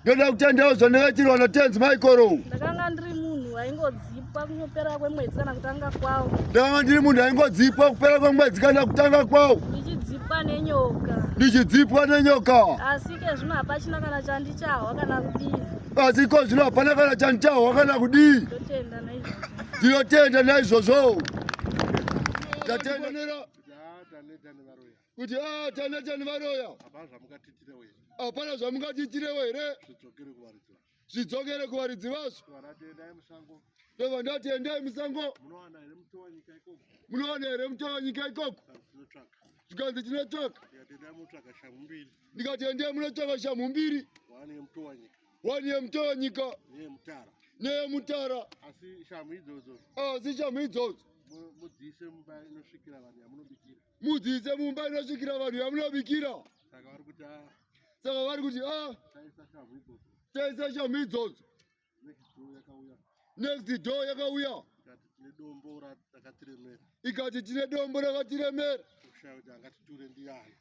ndoda kutendawo zvandakaitirwa natenzi maikoro ndakanga ndiri munhu aingodzipwa kupera kwemwedzi kana kutanga kwawo ndakanga ndiri munhu aingodzipwa kupera kwemwedzi kana kutanga kwawo ndichidzipwa nenyoka ndichidzipwa nenyoka asi ke zvino hapachina kana chandichahwa kana kudii asi ko zvino hapana kana chandichahwa kana kudii ndinotenda naizvozvo tatenda kuti ah, tanetani varoya hapana zvamungatitirewo here zvidzokere kuvaridzi vazvo ndova ndati endai musango munowana here muto wanyika ikoko zvikanzi tinotsvaka ndikati endai munotsvaka shamhu mbiri Wani yemutanyika. Yemutara. Neyemutara. Asi shamhu idzodzo. Asi shamhu idzodzo. Mudziise mumba inosvikira vanhu yamunobikira. Mudziise mumba inosvikira vanhu yamunobikira. Saka vari kuti ah. Saka vari kuti ah. Taisa shamhu idzodzo. Taisa shamhu idzodzo. Next door yakauya. next door yakauya ikati tine dombo rakatiremera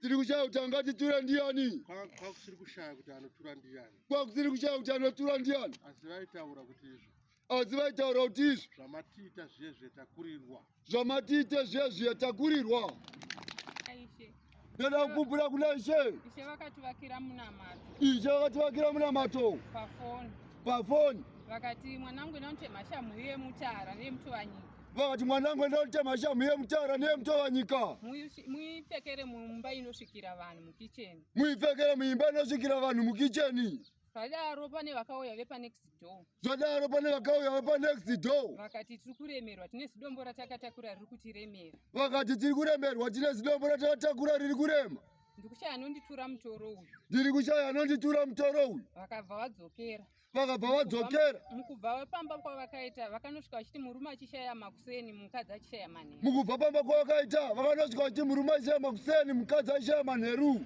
tiri kushaya kuti angatiture ndiyani kwakusiri kushaya kuti anotura ndiyani asi vaitaura kuti izvo zvamatiita zviye zvetakurirwa zvamatiite zviya zviya takurirwa ndoda kupupura kuna ishe ishe vakativakira munamato ishe vakativakira munamato pafoni pafoni vakati mwanangu enda unotema shamhu yemutara neyemutuvanyika vakati mwanangu enda unotema shamhu yemutara neyemutuvanyika muipfekere mumba inosvikira vanhu mukicheni muipfekere muimba inosvikira vanhu mukicheni Zvadaro pane vakauya vepa next door. Zvadaro pane vakauya vepa next door. Vakati tiri kuremerwa tine zidombo ratakatakura riri kutiremera. Vakati tiri kuremerwa tine zidombo ratakatakura riri kurema. Ndikushaya anonditura mutoro uyu. Ndiri kushaya anonditura mutoro uyu. Vakabva vadzokera. Vakabva vadzokera. Mukubva vapamba kwavakaita vakanosvika vachiti murume achishaya makuseni mukadzi achishaya manheru. Mukubva pamba kwavakaita vakanosvika vachiti murume achishaya makuseni mukadzi achishaya manheru.